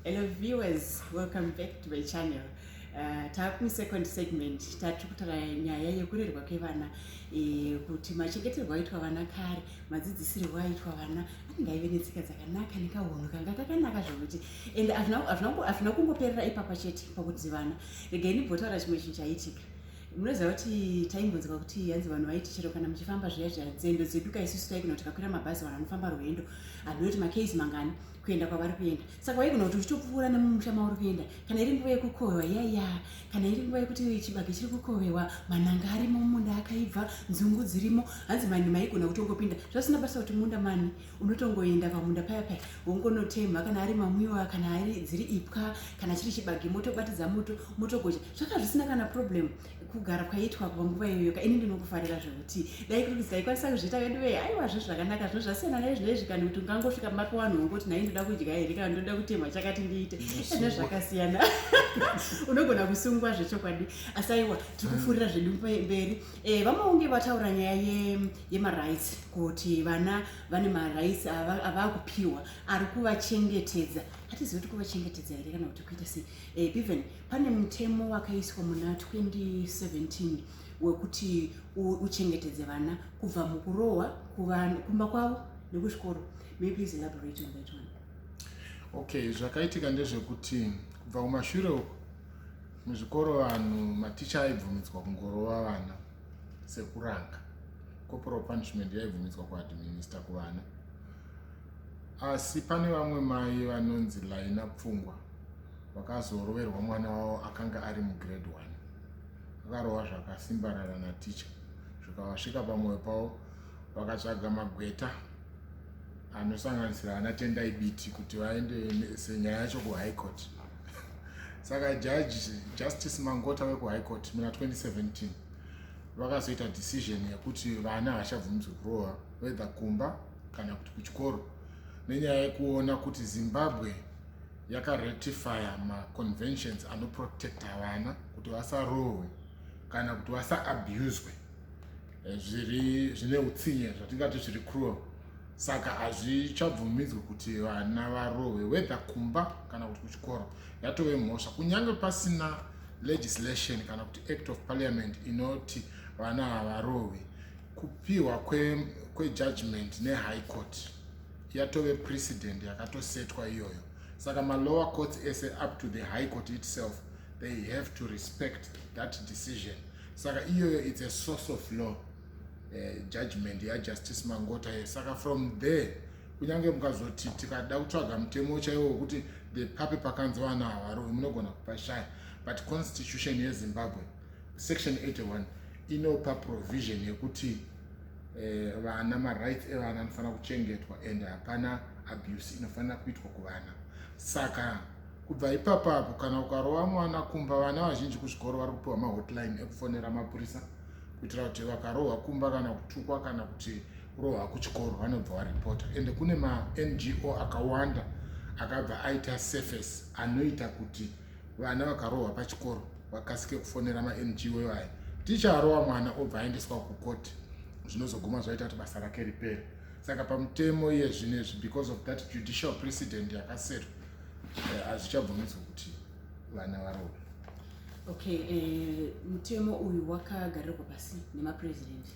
Hello viewers, welcome back to my channel. Uh, taakumi second segment tatiri kutaura nyaya yekurerwa kwevana e, kuti machengeterwo aitwa vana kare madzidzisirwo aitwa vana anenge aive netsika dzakanaka nekahunhu kanga kakanaka zvokuti and hazvina kungoperera ipapa chete pakuti vana regai ndimbotaura chimwe chinhu chaitika munoziva kuti taimbonzwa kuti hanzi vanhu vaiti chero kana muchifamba zviya zviya nzendo dzedu ka isusu taigona kuti kakwira mabhazi vanhu vanofamba rwendo handiwe kuti makesi mangani kuenda kwavari kuenda saka waigona kuti uchitopfuura nemumusha mauri kuenda kana iri nguva yekukohwewa yaiya kana iri nguva yekuti chibage chiri kukohwewa mananga arimo mumunda akaibva nzungu dzirimo hanzi mani maigona kutongopinda zvasina basa kuti munda mani unotongoenda pamunda paya paya wongonotemha kana ari mamwiwa kana ari dziri ipwa kana chiri chibage motobatidza moto motogoja zvaka zvisina kana problem kugara kwaitwa panguva iyoyoka ini ndinokufarira zvekuti dai kuti taikwanisa kuzviita vedu vee aiwa zve zvakanaka zvino zvasiyana nezvi nezvi kana kuti ungangosvika mapa vanhu wongoti nai ndoda kudya here kana ndoda kutemha chakati ndiite zvine zvakasiyana unogona kusungwa zvechokwadi asi aiwa tiri kufurira zvedu mberi Eh, vamaunge vataura nyaya ye, yemarights kuti vana vane marights ava- avakupiwa ari kuvachengetedza hatizivi kuti kuvachengetedza here kana kuti kuita sei eh, even pane mutemo wakaiswa muna 2017 wekuti u- uchengetedze vana kubva mukurohwa kuva- kumba kwavo nekuchikoro may you please elaborate on that one okay zvakaitika ndezvekuti kubva kumashure uku Muzvikoro vanhu maticha aibvumidzwa kungorova vana sekuranga. Corporal punishment yaibvumidzwa kuadminister kuvana. Asi pane vamwe mai vanonzi Laina Pfungwa vakazoroverwa mwana wavo akanga ari mugrade 1. Vakarova zvakasimbarara naticha zvikavasvika pamwoyo pavo vakatsvaga magweta anosanganisira ana tendai biti kuti vaende senyaya yacho kuhigh court saka jaji justice mangota wekuhigh court muna 2017 vakazoita decision yekuti vana havachabvumidzwe kurova wether kumba kana kuti kuchikoro nenyaya yekuona kuti zimbabwe yakaratifya maconventions anoprotecta vana kuti vasarohwe kana kuti vasaabuswe eh, zviri zvine utsinye zvatingati zviri cruel saka hazvichabvumidzwe kuti vana varohwe whether kumba kana kuti kuchikoro yatove mhosva kunyange pasina legislation kana kuti act of parliament inoti vana havarohwi kupiwa kwejudgment kwe nehigh court yatove precedent yakatosetwa iyoyo saka malower courts ese up to the high court itself they have to respect that decision saka iyoyo its a source of law uh, judgment yajustice mangota ye saka from there kunyange mukazoti tikada kutsvaga mutemo chaiwo wekuti the pape pakanzi vana havaroi munogona kupashaya but constitution yezimbabwe section 81 inopa provision yekuti eh, vana uh, marights evana anofanira kuchengetwa and hapana abuse inofanira kuitwa kuvana saka Kubva ipapapo kana ukarova mwana kumba, vana vazhinji kuzvikoro vari kupiwa mahotline ekufonera mapurisa kuitira kuti vakarohwa kumba kana kutukwa kana kuti kurohwa kuchikoro vanobva varipota ende kune mango akawanda akabva aita surface anoita kuti vana vakarohwa pachikoro vakasike kufonera mango ivaya ticha arohwa mwana obva aendeswa kukoti zvinozoguma zvaita kuti basa rake ripere saka pamutemo iye zvinezvi because of that judicial precedent yakasetwa eh, hazvichabvumidzwa kuti vana varohwe okay eh, mutemo uyu wakagarirwa pasi nemapresident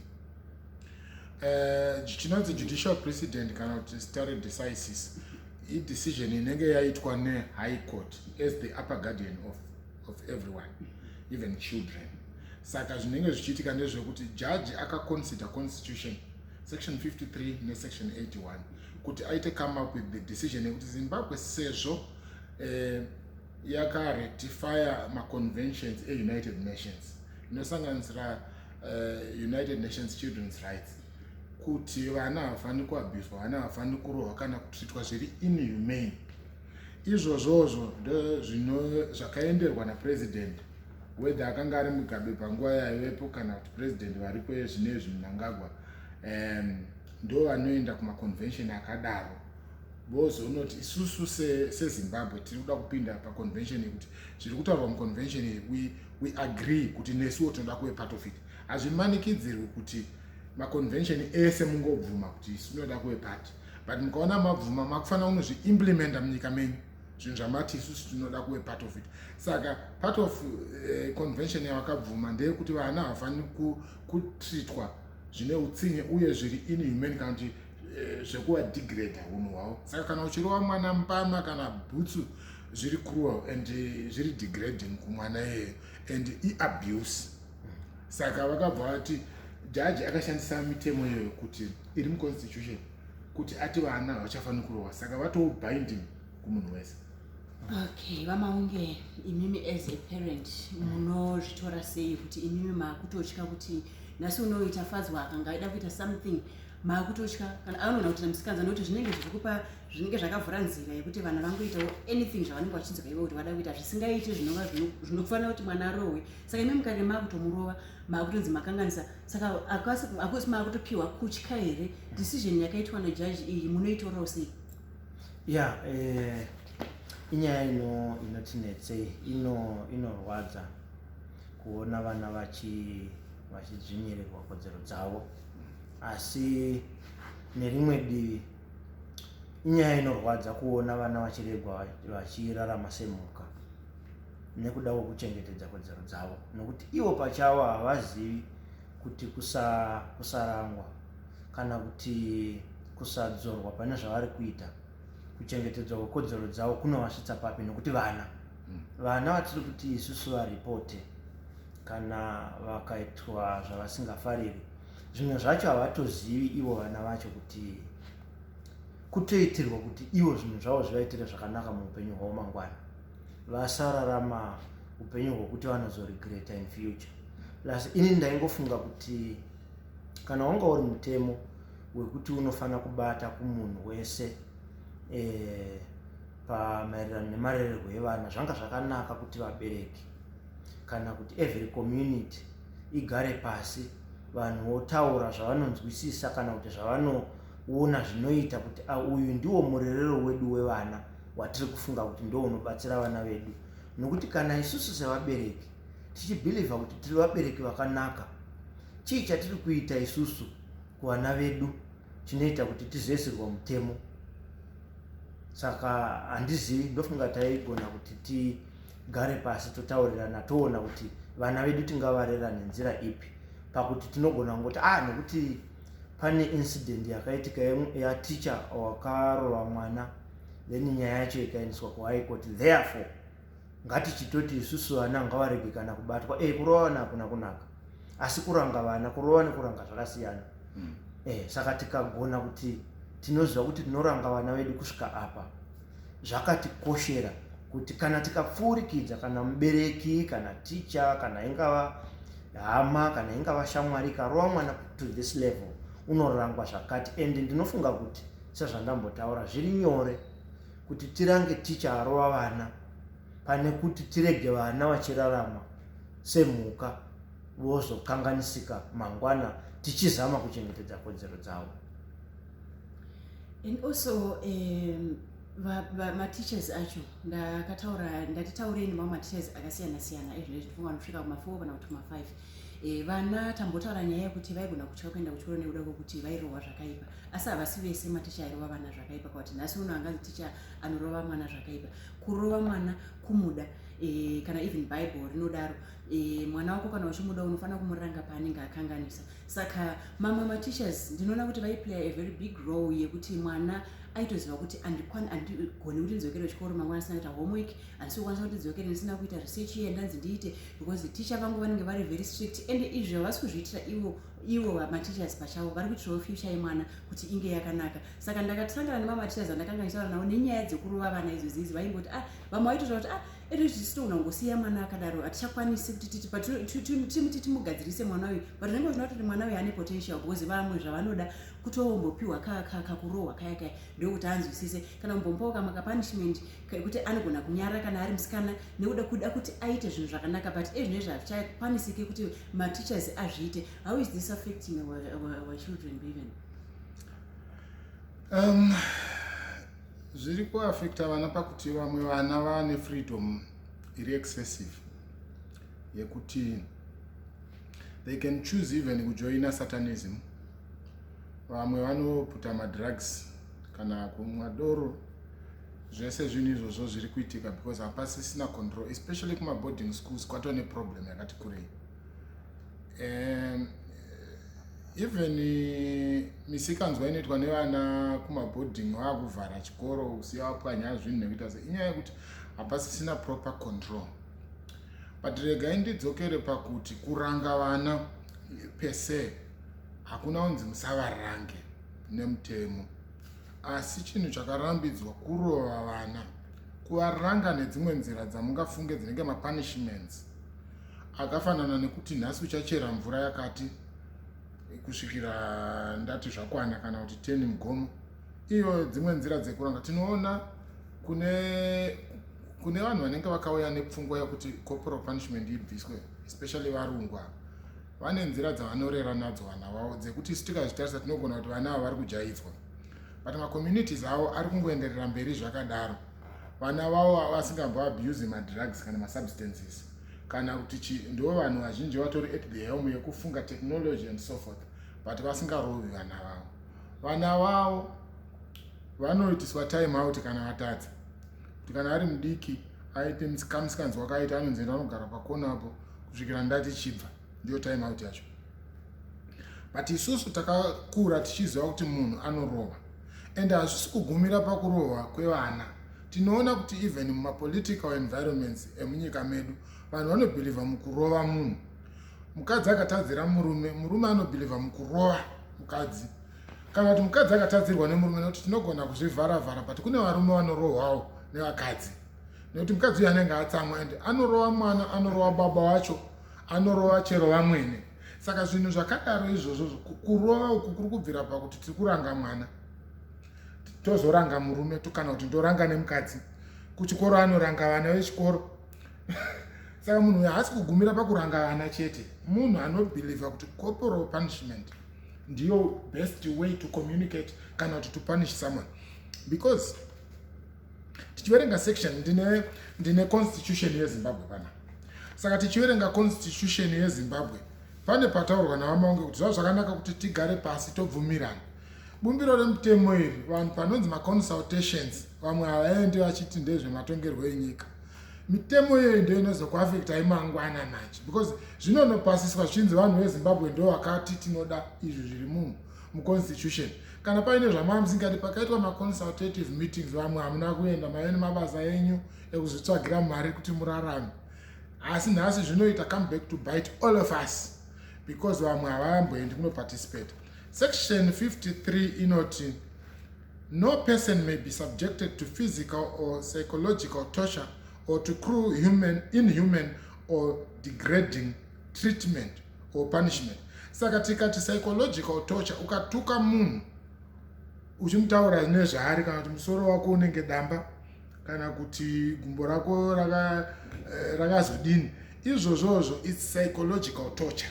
eh, chinonzi uh, judicial precedent kana kuti stare decisis idecision inenge yaitwa nehigh court as the upper guardian of, of everyone even children saka zvinenge zvichiitika ndezvekuti jaji akaconsider constitution section 53 nesection 81 kuti aite come up with the decision yekuti zimbabwe sezvo eh, yakarectifya maconventions eunited nations inosanganisira uh, united nations children's rights kuti vana havafaniri kuabhizwa vana havafaniri kurohwa kana kutritwa zviri inhumane izvozvozvo ndozvino zvakaenderwa napresident whether akanga ari mugabe panguva yaivepo kana kuti president variko yezvinezvi munangagwa um, ndo vanoenda kumaconvention akadaro vozonoti isusu sezimbabwe se tiri kuda kupinda paconvention yekuti zviri kutaurwa muconvention iyi we, we agree kuti nesuwo tinoda kuve part of it hazvimanikidzirwi kuti maconvention ese mungobvuma kuti isu tinoda kuve part but mukaona mabvuma makufanira kunozviimplementa munyika menyu zvinhu zvamati isusu tinoda kuve part of it saka part of uh, convention yavakabvuma ndeyekuti vana havafaniri kutreatwa zvine utsinye uye zviri inhumane kana kuti eh, zvekuva degrade unhu hwavo saka kana uchirova mwana mbama kana bhutsu zviri cruel and eh, zviri degrading kumwana iyeyo and iabuse saka vakabva vati jaji akashandisa mitemo iyoyo kuti iri muconstitution kuti ati vana havachafaniri kurohwa saka vatoo binding kumunhu wese okay vamaunge imimi as a parent munozvitora sei kuti imimi maakutotya kuti nhasi unoita fadzwa akanga aida kuita something maakutotya kana anoona kuti namusikanza nokuti zvinenge zvikupa zvinenge zvakavhura nzira yekuti vana vangoitawo anything zvavanenge vachinzwa ivo kuti vada kuita zvisingaiti zvinova zvinofanira kuti mwana arohwe saka imi mukange makutomurova makutonzi makanganisa saka akusi makutopiwa kutya here decision yakaitwa nejaji iyi munoitorawo sei ya eh, inyaya ino inotinetsei ino inorwadza kuona vana vachidzvinyirirwa kodzero dzavo asi nerimwe divi inyaya inorwadza kuona vana vachiregwa vachirarama semhuka nekuda kwekuchengetedza kodzero dzavo nokuti ivo pachavo havazivi kuti kusa, kusarangwa kana kuti kusadzorwa pane zvavari kuita kuchengetedzwa kwekodzero dzavo kunovasvitsa papi nokuti vana hmm. vana vatiri kuti isusu varipote kana vakaitwa zvavasingafariri zvimwe zvacho havatozivi ivo vana vacho kuti kutoitirwa kuti ivo zvinhu zvavo zvivaitire zvakanaka muupenyu hwavo mangwana vasararama upenyu hwekuti vanozoregreter in future plus ini ndaingofunga kuti kana wanga uri mutemo wekuti unofanira kubata kumunhu wese eh, pamaererano nemarererwo evana zvanga zvakanaka kuti vabereki kana kuti every community igare pasi vanhu votaura zvavanonzwisisa kana kuti zvavanoona zvinoita kuti ah, uyu ndiwo murerero wedu wevana watiri kufunga kuti ndo unobatsira vana vedu nokuti kana isusu sevabereki tichibhilivha kuti tiri vabereki vakanaka chii chatiri kuita isusu kuvana vedu chinoita kuti tizoisirwa mutemo saka handizivi ndofunga taigona kuti tigare pasi totaurirana toona kuti vana vedu tingavarera nenzira ipi pakuti tinogona kungoti a ah, nokuti pane incident yakaitika yateacher wakarova mwana then nyaya yacho ikaendeswa kuhigh court therefore ngatichitoti isusu vana ngavarege kana kubatwa e kurova vana hakuna kunaka asi kuranga vana kurova nekuranga zvakasiyana mm. e, saka tikagona kuti tinoziva kuti tinoranga vana vedu kusvika apa zvakatikoshera kuti kana tikapfuurikidza kana mubereki kana ticha kana ingava hama kana ingava shamwari ikarova mwana to this level unorangwa zvakati and ndinofunga kuti sezvandambotaura zviri nyore kuti tirange ticha arova vana pane kuti tirege vana vachirarama semhuka vozokanganisika mangwana tichizama kuchengetedza kodzero dzavo and also um, vamateachers acho ndakataura ndatitaurei nemamwe mateachers akasiyana siyana ezvino zvitofo vanosvika kumafour kana kuti kumafive eh, vana tambotaura nyaya yekuti vaigona kutya kuenda kuchikoro nekuda kwekuti vairohwa zvakaipa asi havasi vese maticha airova vana zvakaipa kwakuti nhasi uno anganzi ticha anorova mwana zvakaipa kurova mwana kumuda eh, kana even bible rinodaro eh, mwana wako kana uchimuda unofanira kumuranga paanenge akanganisa saka mamwe mateachers ndinoona kuti vaiplaya a very big role yekuti mwana aitoziva kuti andigoni kuti ndidzokere kuchikoro mangwana asina kuita homework handisi kukwanisa kuti ndidzokere ndisina kuita research iye ndanzi ndiite because teacher vangu vanenge vari very strict and izvi havasi kuzviitira ivo ivo mateachers pachavo vari kuitirawo future yemwana kuti inge yakanaka saka ndakatosangana nemamatichers andakanga ndichitaura navo nenyaya dzekurova vana idzo dziidzi vaingoti ah vamwe vaitotaura kuti ah ere zvisitogona kungosiya mwana akadaro hatichakwanisi kuti titi patiti timugadzirise mwana uyu but zvinenge zvinoa kuti mwana uyu ane potential because vamwe zvavanoda kutombopiwa kakurohwa kaya kaya ndokuti anzwisise kana kumbompawo kamwe kapunishment kekuti anogona kunyara kana ari musikana nekuda kuda kuti aite zvinhu zvakanaka but ezvinezvi hazvichakwanisike kuti mateachers azviite how is this affecting our, our, our children even um, zviri kuafecta vana pakuti vamwe vana vane freedom iri excessive yekuti they can choose even kujoina satanism vamwe vanoputa madrugs kana kumwa doro zvese zvinhu izvozvo zviri kuitika because hapasisina control especially kumaboarding schools kwatone problem yakati kurei um even misikanzwa inoitwa nevana kumaboarding vakuvhara chikoro kusiya vapwanya zvinhu nekuita se inyaya yekuti hapasisina proper control but regai ndidzokere pakuti kuranga vana pese hakuna unzi musavarange nemutemo asi chinhu chakarambidzwa kurova vana kuvaranga nedzimwe nzira dzamungafunge dzinenge mapunishments akafanana nekuti nhasi uchachera mvura yakati kusvikira ndati zvakwana kana kuti teni mugomo iyo dzimwe nzira dzekuranga tinoona kune kune vanhu vanenge vakauya nepfungwa yekuti corporal punishment ibviswe especially varungwa vane nzira dzavanorera nadzo vana vavo dzekuti isu tikazvitarisa tinogona kuti vana ava vari kujaidzwa but macommunities avo ari kungoenderera mberi zvakadaro vana vavo avasingambo abuse madrugs kana masubstances kana kuti chi ndo vanhu vazhinji vatori at the helm yekufunga technology and so forth but vasingarovi vana vavo vana vavo vanoitiswa time out kana vatadza kuti kana ari mudiki aite kamusikanzi wakaita anonzi enda anogara pakona apo kusvikira ndati chibva ndiyo time out yacho but isusu takakura tichiziva kuti munhu anorova and hazvisi kugumira pakurova kwevana tinoona kuti even mumapolitical environments emunyika medu vanhu vanobhilivha mukurova munhu mukadzi akatadzira murume murume anobhilivha mukurova mukadzi kana kuti mukadzi akatadzirwa nemurume nekuti tinogona kuzvivhara vhara but kune varume vanorohwawo nevakadzi nekuti mukadzi uyo anenge atsamwa ende anorova mwana anorova baba wacho anorova chero vamwene saka zvinhu zvakadaro izvozvo kurova uku kuri kubvira pakuti tiri kuranga mwana tozoranga murume kana kuti ndoranga nemukadzi kuchikoro anoranga vana vechikoro saka munhu uyo haasi kugumira pakuranga vana chete munhu anobhilivha kuti corporal punishment ndiyo best way to communicate kana kuti to punish someone because tichiverenga section ndine ndine constitution yezimbabwe pana saka tichiverenga constitution yezimbabwe pane pataurwa navamaunge kuti zvava zvakanaka kuti tigare pasi tobvumirana bumbiro remutemo iri vanhu panonzi maconsultations vamwe havaendi vachiti ndezvematongerwo enyika mitemo iyoyi ndo inozokuafekta imangwana manje because zvinonopasiswa zvichinzi vanhu vezimbabwe ndo vakati tinoda izvi zviri munhu muconstitution kana paine zvamamusingadi pakaitwa maconsultative meetings vamwe hamuna kuenda maive nemabasa enyu ekuzvitsvagira mari kuti murarame asi nhasi zvinoita come back to bite all of us because vamwe havamboendi kunoparticipate section 53 inoti no person may be subjected to physical or psychological torture or to cruel human inhuman or degrading treatment or punishment saka tikati psychological torture ukatuka munhu uchimutaura nezvaari kana kuti musoro wako unenge damba kana kuti gumbo rako eh, rakazodini raka izvozvozvo its psychological torture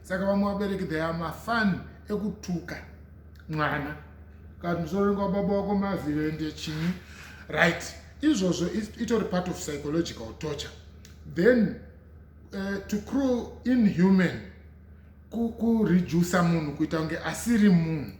saka vamwe vabereki they are mafani ekutuka mwana kana kuti musoro unenge wababa wako mavhiro ende chinyi right izvozvo itori part of psychological torture then uh, to crew inhuman kuredusa munhu kuita kunge asiri munhu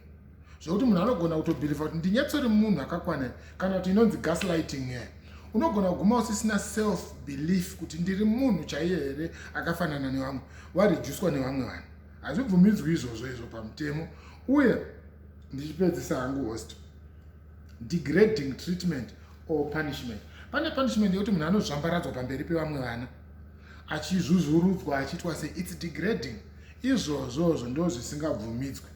zvekuti munhu anogona kutobhiriva kuti ndinyatsori munhu akakwana kana kuti inonzi gaslighting here unogona kuguma usisina self belief kuti ndiri munhu chaiye here akafanana nevamwe wareducwa nevamwe vanhu hazvibvumidzwi izvozvo izvo pamutemo uye ndichipedzisa hangu host degrading treatment or punishment pane punishment yekuti munhu anozvambaradzwa pamberi pevamwe vana achizvuzvurudzwa achiitwa se its degrading izvozvozvo ndo zvisingabvumidzwe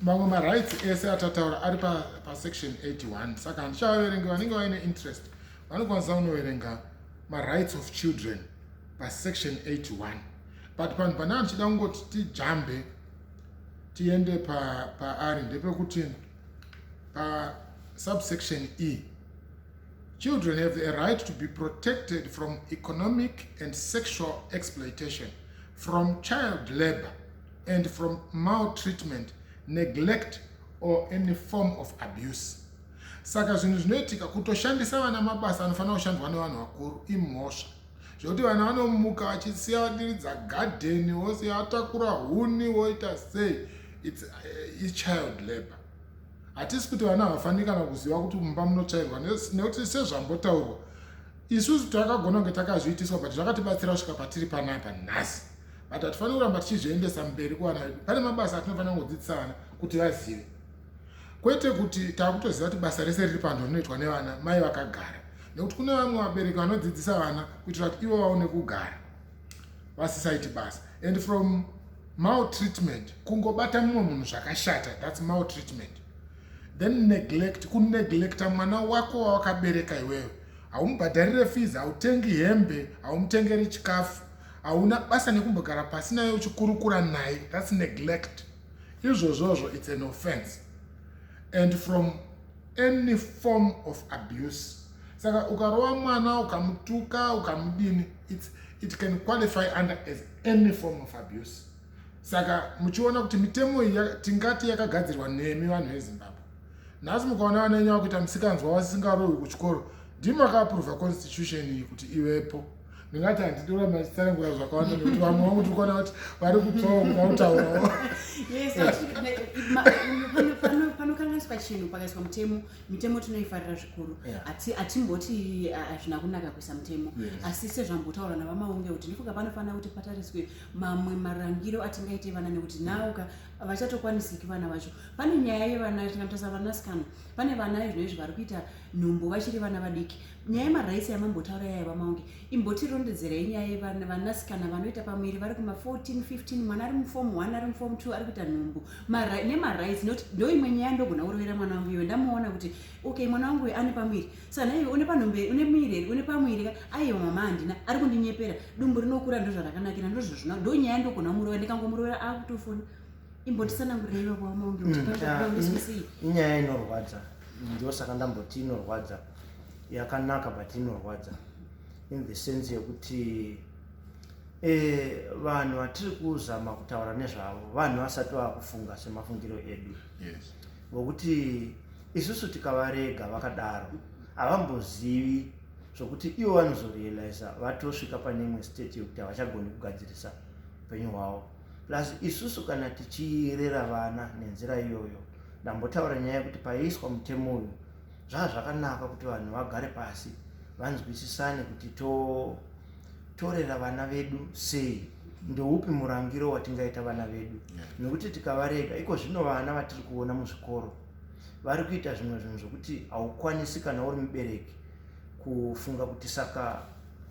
mamwe marights ese atataura ari pasection pa 81 saka handichavaverengi vanenge vaine interest vanokwanisa kunoverenga marights of children pasection 81 but panhu pane andichida kungoti tijambe tiende paari pa ndepekuti pasubsection e Children have a right to be protected from economic and sexual exploitation, from child labor, and from maltreatment, neglect, or any form of abuse. Saka zvinhu zvinoitika kutoshandisa vana mabasa anofanira kushandwa nevanhu vakuru imhosva zvekuti vana vanomuka vachisiya vadiridza gadheni vosiya vatakura huni voita sei its, uh, child labor hatisi kuti vana havafaniri kana kuziva kuti mumba munotsvairwa nekuti sezvambotaurwa isusu takagona kunge takazviitiswa but zvakatibatsira kusvika patiri panapa nhasi but hatifaniri kuramba tichizviendesa mberi kuvana vedu pane mabasa atinofanira kungodzidzisa vana kuti vazive kwete kuti takutoziva kuti basa rese riri panhu rinoitwa nevana mai vakagara nekuti kune vamwe vabereki vanodzidzisa vana kuitira kuti ivo vaone kugara vasisaiti basa and from maltreatment kungobata mumwe munhu zvakashata thats maltreatment then neglect kuneglecta mwana wako wawakabereka iwewe haumubhadharire fees hautengi hembe haumutengeri chikafu hauna basa nekumbogara pasi naye uchikurukura naye thats neglect izvozvozvo its an offense and from any form of abuse saka ukarova mwana ukamutuka ukamudini it can qualify under as any form of abuse saka muchiona kuti mitemo iyi tingati yakagadzirwa nemi vanhu vezimbabwe nhasi mukaona vana venyu vakuita misikanzwa wasisingarohwi kuchikoro ndimi vakaapuruvha constitution iyi kuti ivepo ndingati handidi kuramba ndichitsanangura zvakawanda nekuti vamwe vangu tiri kuona kuti vari kutsvawo kuda kutaurawo panokanganiswa chinhu pakaiswa mutemo mitemo tinoifarira zvikuru hatimboti yeah. hazvina kunaka kuisa mutemo yes. asi sezvambotaura navamaunge kuti ndifunga panofanira kuti patariswe mamwe marangiro atingaite vana nekuti nauka vachatokwanisiki vana vacho pane nyaya yevana tingatarisa vanasikana pane vana izvo izvi vari kuita nhumbu vachiri vana vadiki nyaya yemaraisi yamambotaura yaya vamaunge imbotirondedzerai nyaya yevanasikana vanoita pamwiri vari kuma 14 15 mwana ari mufomu 1 ari mufomu 2 ari kuita nhumbu Mara, nemarights not ndoimwe nyaya ndogona kurovera mwana wangu iwe ndamuona kuti okay mwana wangu uyo ane pamwiri sana iwe une panhombe une mwiri here une pamwiri ka aiwa mama handina ari kundinyepera dumbu rinokura ndozvarakanakira ndozvazvina ndo nyaya ndogona kumurova ndikangomurovera akutofona imbotisanangurireiva kwamaunge mm, kutiaisisii inyaya inorwadza ndosaka ndamboti inorwadza yakanaka but inorwadza in the sense yekuti Eh, vanhu vatiri kuzama kutaura nezvavo vanhu vasati vava kufunga semafungiro edu yes. vokuti isusu tikavarega vakadaro havambozivi zvokuti ivo vanozorealiza vatosvika pane imwe state yekuti havachagoni kugadzirisa upenyu hwavo plus isusu kana tichirera vana nenzira iyoyo ndambotaura nyaya yekuti paiiswa mutemo uyu zvava zvakanaka kuti vanhu vagare pasi vanzwisisane kuti to torera vana vedu sei ndoupi murangiro watingaita vana vedu nekuti tikavarega iko zvino vana vatiri kuona muzvikoro vari kuita zvimwe zvinhu zvokuti haukwanisi kana uri mubereki kufunga kuti saka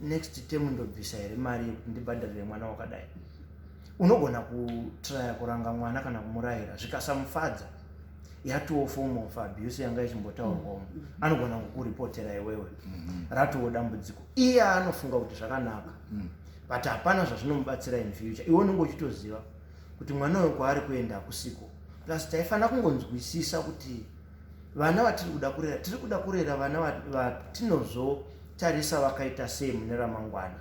next tem ndobvisa here mari yekuti ndibhadharire mwana wakadai unogona kutraya kuranga mwana kana kumurayira zvikasamufadza yatoo form of abuse yanga ichimbotaurwawo mm. mm. anogona kukuripotera iwewe mm-hmm. ratoo dambudziko iye anofunga kuti zvakanaka mm. but hapana zvazvinomubatsira in future iwe unenge uchitoziva kuti mwana uyo kwaari kuenda kusiko plus taifanira kungonzwisisa kuti vana vatiri kuda kurera tiri kuda kurera vana vatinozotarisa vakaita sei mune ramangwana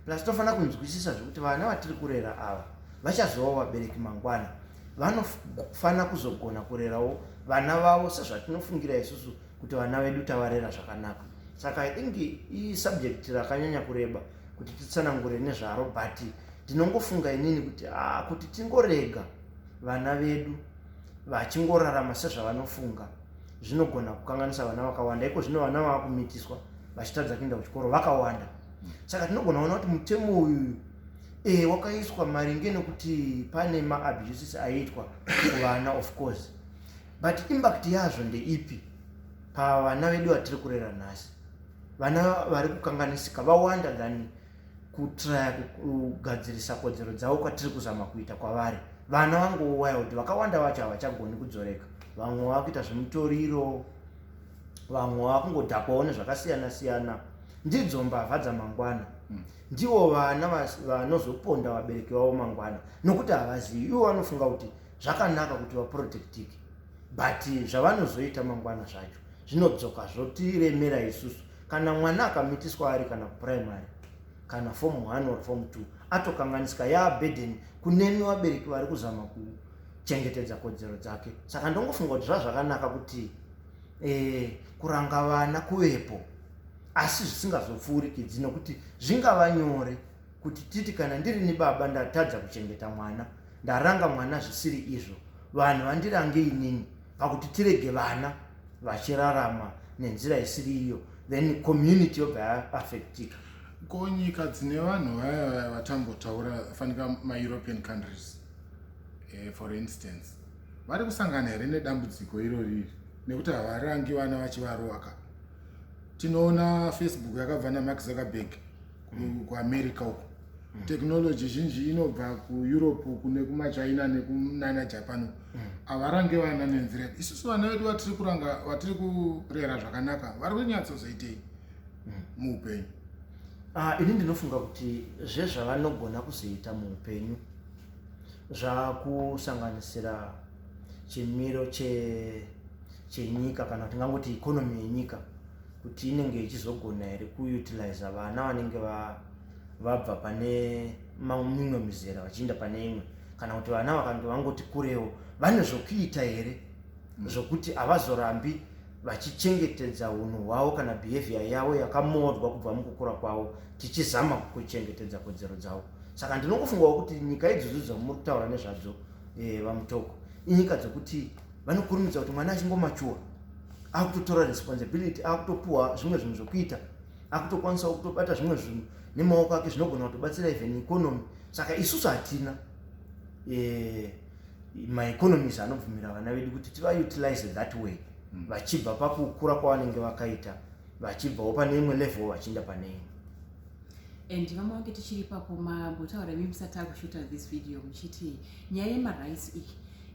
plus tinofanira kunzwisisa zvekuti vana vatiri kurera ava vachazova vabereki mangwana vanofanira kuzogona kurerawo vana vavo sezvatinofungira isusu kuti vana vedu tavarera zvakanaka saka i think isubject rakanyanya kureba kuti titsanangure nezvaro but ndinongofunga inini kuti ah, kuti tingorega vana vedu vachingorarama sezvavanofunga zvinogona kukanganisa vana vakawanda iko zvino vana vava kumitiswa vachitadza kuenda kuchikoro vakawanda saka tinogona kuona kuti mutemo uyuyu eh wakaiswa maringe nekuti pane ma abuses aiitwa kuvana of course but impact yazvo ndeipi pavana vedu vatiri kurera nhasi vana vari kukanganisika vawanda than kutraya kugadzirisa kodzero dzavo kwatiri kuzama kuita kwavari vana vangouwaya kuti vakawanda vacho havachagoni kudzoreka vamwe vava kuita zvemutoriro vamwe vava kungodhakwawo nezvakasiyana siyana ndidzo mbavha dzamangwana hmm. ndivo vana vanozoponda vabereki vavo mangwana nokuti havazivi ivo vanofunga kuti zvakanaka kuti vaprotectike but zvavanozoita mangwana zvacho zvinodzoka zvotiremera isusu kana mwana akamitiswa ari kana primary kana form one or form two atokanganisika yaabeden kunemi vabereki vari kuzama kuchengetedza kodzero dzake saka ndongofunga kuti zvazvakanaka kuti eh, kuranga vana kuvepo asi zvisingazopfuurikidzi nokuti zvingava nyore kuti titi kana ndiri nibaba ndatadza kuchengeta mwana ndaranga mwana zvisiri izvo vanhu vandirange inini pakuti tirege vana vachirarama nenzira isiri iyo then community yobva yaafectika ko nyika dzine vanhu vaya vaya vatambotaura fanika maeuropean countries eh, for instance vari kusangana here nedambudziko iroriri nekuti havarangi vana vachivaroaka tinoona facebook yakabva namax zuckerberg kuamerica uko mm. technology zhinji inobva kueurope kune kumachina nekunana japan uko mm. havarange vana nenzira yake isusu vana vedu vatiri kuranga vatiri kurera zvakanaka vari kunyatsozoitei mm. muupenyu ah, ini ndinofunga kuti zvezvavanogona kuzoita muupenyu zvakusanganisira chemiro che chenyika kana kuti tingangoti economy yenyika kuti inenge ichizogona here kuutiliza vana vanenge vabva pane mimwe mizera vachiinda pane imwe kana kuti vana vakange vangoti kurewo vane zvokuita here mm. zvokuti havazorambi vachichengetedza hunhu hwavo kana behavior yavo yakamodzwa kubva mukukura kwavo tichizama kuchengetedza kodzero dzavo saka ndinokufungawo kuti nyika idzodzo dzamuri kutaura nezvadzo eh, vamutoko inyika dzekuti vanokurumidza kuti mwana achingomachuwa akutotora responsibility akutopuwa zvimwe zvinhu zvekuita akutokwanisawo kutobata zvimwe zvinhu nemaoko ake zvinogona kutobatsira even economy saka isusu hatina eh, maeconomies anobvumira vana vedu kuti tivautilize that way hmm. vachibva pakukura kwavanenge vakaita vachibvawo pane imwe level vachienda pane imwe and vamwe vange tichiri papo mambotaura imi musati akushuta this video muchiti nyaya yemarice iyi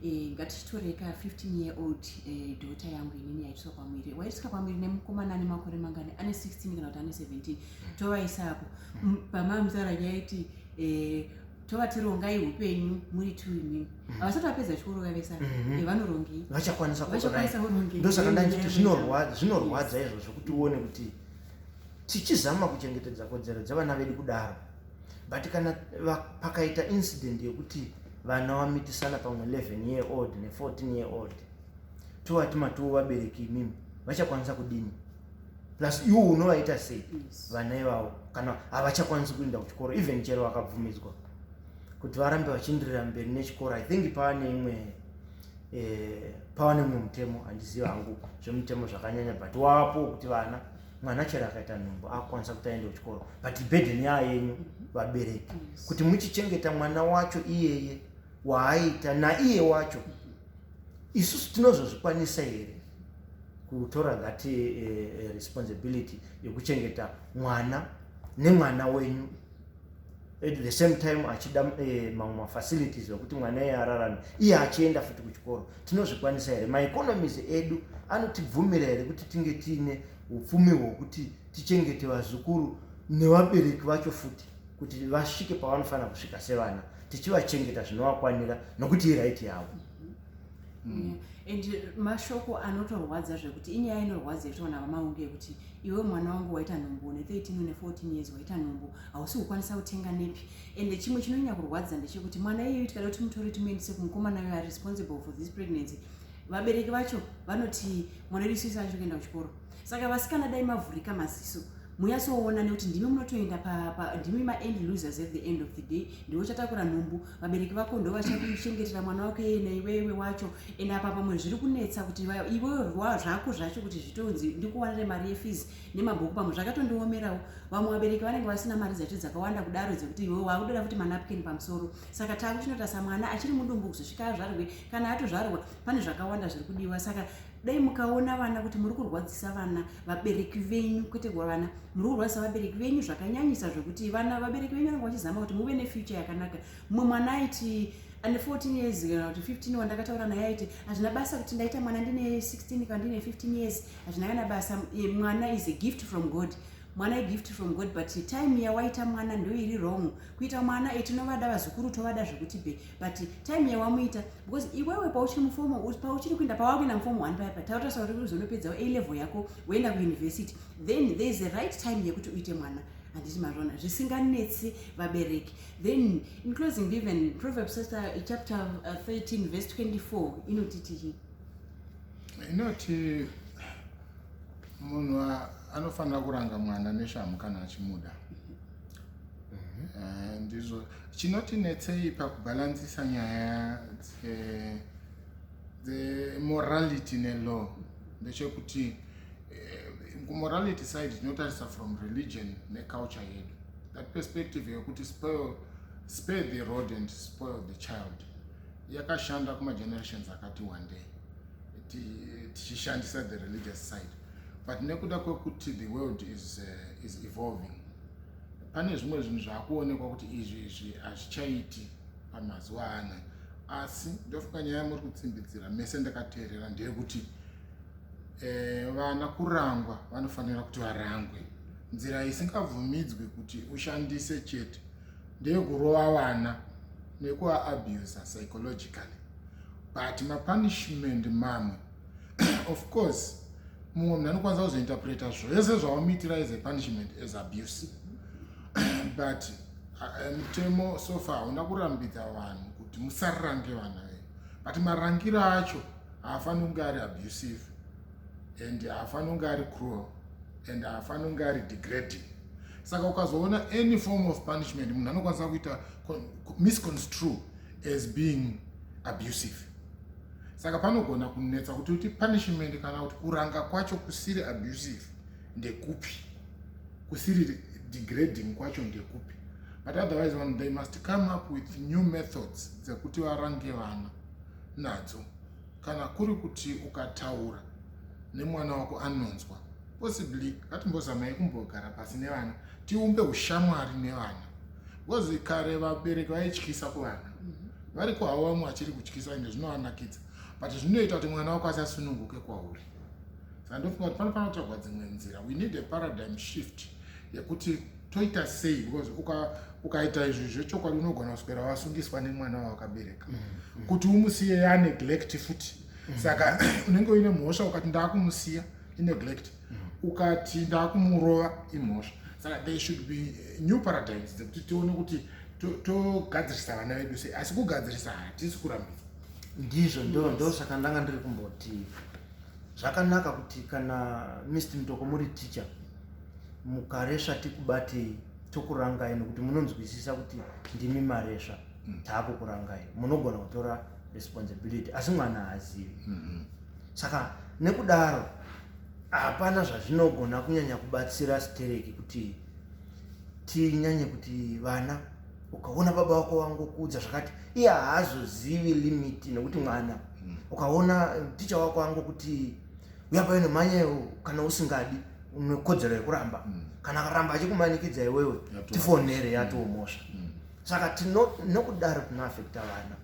e, eh, ngatichitoreka 15 year old e, eh, dota yangu inini yaitiswa pamwiri waitiswa pamwiri nemukomana ane makore mangani ane 16 kana kuti ane 17 tovaisapo pamamzara yaiti e, eh, tovatirongai upenyu muri two imimi mm. havasati vapedza chikoro vavesa mm-hmm. vanorongei vachakwanisa kurongei ndosaka ndanditi zvinorwadza izvo zvekuti uone kuti tichizama kuchengetedza kodzero dzevana vedu kudaro but kana pakaita incident yekuti vana vamitisana pamwe 11 year old ne14 year old tovati matiwo vabereki imimi vachakwanisa kudini plus iwo unovaita sei vana ivavo kana havachakwanisi kuenda kuchikoro even chero vakabvumidzwa kuti varambe vachindirira mberi nechikoro i think paane imwe eh, pawane mumwe mutemo handiziva hangu zvemutemo zvakanyanya but wapo wekuti vana mwana chero akaita nhumbu akukwanisa kuti aende kuchikoro but burden yaa yenyu vabereki kuti muchichengeta mwana wacho iyeye waaita naiye wacho isusu tinozozvikwanisa here kutora that uh, eh, eh, responsibility yekuchengeta mwana nemwana wenyu at the same time achida eh, mamwe mafacilities ekuti mwana iye ararame iye achienda futi kuchikoro tinozvikwanisa here maeconomies edu anotibvumira here kuti tinge tiine upfumi hwokuti tichengete vazukuru nevabereki vacho futi kuti vasvike pavanofanira kusvika sevana tichivachengeta zvinovakwanira nokuti iraiti yavo Mm. and mashoko anotorwadza zvekuti inyaya inorwadza yetoona vamaunge yekuti iwe mwana wangu waita nhumbu une 13 une 14 years waita nhumbu hausi kukwanisa kutenga nepi and chimwe chinonyanya kurwadza ndechekuti mwana iyoyo tikada kuti mutore timuendise kumukomana uyo are responsible for this pregnancy vabereki vacho vanoti mwana wedu sisi acho kuenda kuchikoro saka vasikana dai mavhurika maziso muyasoona nekuti ndimi munotoenda ndimi maend losers at the end of the day ndiwe uchatakura nhumbu vabereki vako ndo vachakuchengetera mwana wako yeye naiwewe wacho ende apa pamwe zviri kunetsa kuti iwewe zvako zvacho kuti zvitonzi ndikuwanire mari yefees nemabhuku pamwe zvakatondiomerawo vamwe vabereki vanenge vasina mari dzacho dzakawanda kudaro dzekuti iwewe wakutoda kuti manapkin pamusoro saka takuchinotasa mwana achiri mudumbu kuzosvika azvarwe kana atozvarwa pane zvakawanda zviri kudiwa saka dai mukaona vana kuti muri kurwadzisa vana vabereki venyu kwete kuva vana muri kurwadzisa vabereki venyu zvakanyanyisa zvekuti vana vabereki venyu vanenge vachizama kuti muve nefuture yakanaka mumwe mwana aiti ane 14 years kana kuti 15 wandakataura naye aiti hazvina basa kuti ndaita mwana ndine 16 kana ndine 15 years hazvina kana basa mwana is a gift from god mwana igift from god but time yawaita mwana ndoiri wrong kuita mwana e tinovada vazukuru tovada zvekuti be but time yawamuita because iwewe pauchiri mufomo pauchiri kuenda pawakuenda mufomo one paipa tautasva kuti kuzonopedzawo a level yako woenda kuuniversity then there is a right time yekuti uite mwana handiti mazvona zvisinganetsi vabereki then in closing even proverbs chapter 13 uh, verse 24 inotiti inoti munhu anofanira kuranga mwana neshamhu kana achimuda mhm. eh, ndizvo chinotinetsei pakubhalansisa nyaya dzemorality nelaw ndechekuti eh, kumorality side tinotarisa from religion neculture yedu that perspective yekuti spoil spare the road and spoil the child yakashanda kumagenerations akati wandei tichishandisa the religious side but nekuda kwekuti the world is, uh, is evolving pane zvimwe zvinhu zvakuonekwa kuti izvi izvi hazvichaiti pamazuva ana asi ndofunga nyaya muri kutsimbidzira mese ndakateerera ndeyekuti eh, vana kurangwa vanofanira kuti varangwe nzira isingabvumidzwi kuti ushandise chete ndeyekurova vana nekuabuser psychologically but mapunishment mamwe of course mumwe munhu anokwanisa kuzointerpreta zvese zvaomuitira as a punishment as abuse but uh, mutemo uh, sofa hauna kurambidza vanhu kuti musarange vana venyu but marangiro acho haafaniri kunge ari abusive and haafaniri kunge ari cruel and haafaniri kunge ari degrading saka ukazoona any form of punishment munhu anokwanisa kuita misconstrue as being abusive saka panogona kunetsa kuti uti punishment kana kuti kuranga kwacho kusiri abusive ndekupi kusiri degrading kwacho ndekupi but otherwise vanhu they must come up with new methods dzekuti varange vana nadzo kana kuri kuti ukataura nemwana wako anonzwa possibly ngatimbozamai kumbogara pasi nevana tiumbe ushamwari nevana bcause kare vabereki vaityisa kuvana mhm. vari kuhavo vamwe vachiri kutyisa ende zvinovanakidza but zvinoita kuti mwana wako asasununguke kwauri saka ndofunga kuti panofanira kutsvagwa dzimwe nzira we need a paradigm shift yekuti toita sei because ukaita izvi zvechokwadi unogona kuswera wasungiswa nemwana wawakabereka mhm, mhm. kuti umusiye yaneglect futi saka unenge uine mhosva ukati ndakumusiya ineglect mm. ukati ndakumurova imhosva saka there should be eh, new paradigms dzekuti tione kuti togadzirisa vana vedu sei asi kugadzirisa hatisi kurambisa ndizvo ndo ndo saka ndanga ndiri kumboti zvakanaka kuti kana mist mutoko muri teacher mukaresva tikubatei tokurangai nokuti munonzwisisa kuti ndimi maresva mm. taakukurangai munogona kutora responsibility asi mwana haazivi mm -hmm. saka nekudaro hapana zvazvinogona kunyanya kubatsira stereki kuti tinyanye kuti vana ukaona baba wako wangokuudza zvakati iye haazozivi limiti nekuti mwana hmm. ukaona ticha wako angokuti uya payo nemhanya iwo kana usingadi unekodzero yekuramba hmm. kana akaramba achikumanikidza iwewe tifonere yatoomosva hmm. saka tino nokudaro tinoafekta vana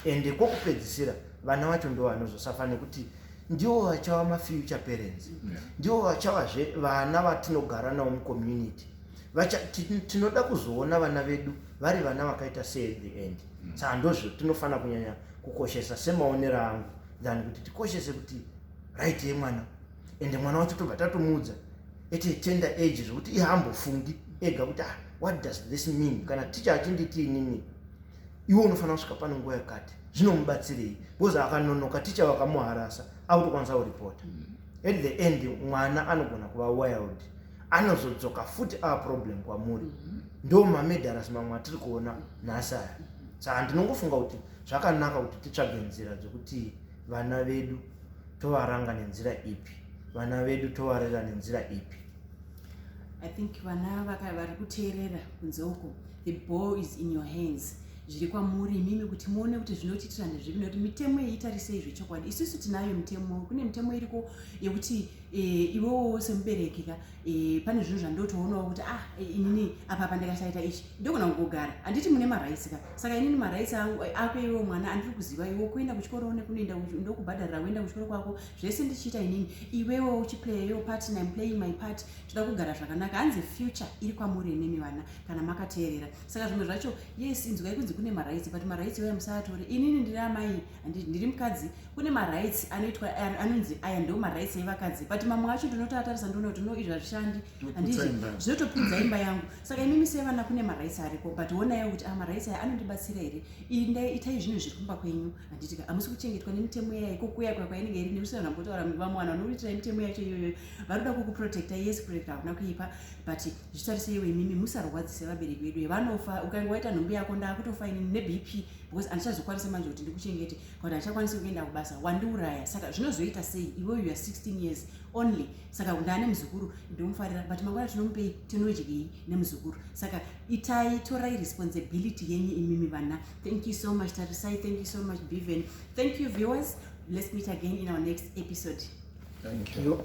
ende kwokupedzisira vana vacho ndo vanozosafa nekuti ndivo vachava mafuture parents ndivo vachavazve vana vatinogara navo mucommunity tinoda kuzoona vana vedu vari vana vakaita seat the end mm. saka ndozvo tinofanira kunyanya kukoshesa semaonero angu than kuti tikoshese kuti right yemwana ende mwana wacho tobva tatomuudza ete tender age zvekuti ihambofungi ega kuti ah what does this mean kana ticha achinditi inini iwe unofanira kusvika pane nguva yakati zvinomubatsirei because akanonoka ticha vakamuharasa akutokwanisa kuripota mm. at the end mwana anogona kuva wild anozodzoka futi ava problem kwamuri mm-hmm. ndo mamedaras mamwe atiri kuona nhasi aya saa ndinongofunga kuti zvakanaka kuti titsvage nzira dzekuti vana vedu tovaranga nenzira ipi vana vedu tovarera nenzira ipi i think vana vari kuteerera kunze uko the ball is in your hands zviri kwamuri imimi kuti muone kuti zvinotiitira ndezvipi nekuti mitemo iyi itarisei zvechokwadi isusu tinayo mitemo kune mitemo iriko yekuti e, iwewo semubereki ka e, pane zvinhu zvandotoonawo kuti ah e, inini apa pa ndikasaita ichi ndogona kugogara handiti mune maraisi ka saka inini maraisi angu eh, ako iwewo mwana andiri kuziva iwe kuenda kuchikoro one kunoenda ndokubhadharira kuenda kuchikoro kwako zvese ndichiita inini iwewo uchiplaya yo part and im playing my part toda kugara zvakanaka hanzi future iri kwamuri inini vana kana makateerera saka zvimwe zvacho yes inzwai kunzi kune maraisi but maraisi iwaya musaatore inini ndiri amai handiti ndiri mukadzi kune marights anoitwa anonzi aya ndo marights evakadzi but mamwe acho ndinotoatarisa ndoona kuti no izvi hazvishandi handiti zvinotopudza imba yangu saka imimi sevana kune marights ariko but onayo kuti ah, marights aya anondibatsira here indai itai zvinhu zviri kumba kwenyu handiti hamusi kuchengetwa nemitemo yayo kokuya kwa kwainenge iri nekusi vanhu vambotaura vamwe vanhu vanoitira mitemo yacho iyoyo vari kuda kukuprotecta yes kuprotecta hakuna kuipa but zvitariseiwo imimi musarwadzise vabereki vedu vanofa ukange waita nhumbi yako ndakutofa ini nebp because andichazokwanisa manje kuti ndikuchengete but andichakwanisa kuenda kubasa wandiuraya saka zvinozoita sei iwe you are 16 years only saka ndaa nemuzukuru ndomufarira but mangwana tinomupei tinodyei nemuzukuru saka itai torai responsibility yenyu imimi vana thank you so much tarisai thank you so much beven thank you viewers let's meet again in our next episode thank you. Thank you.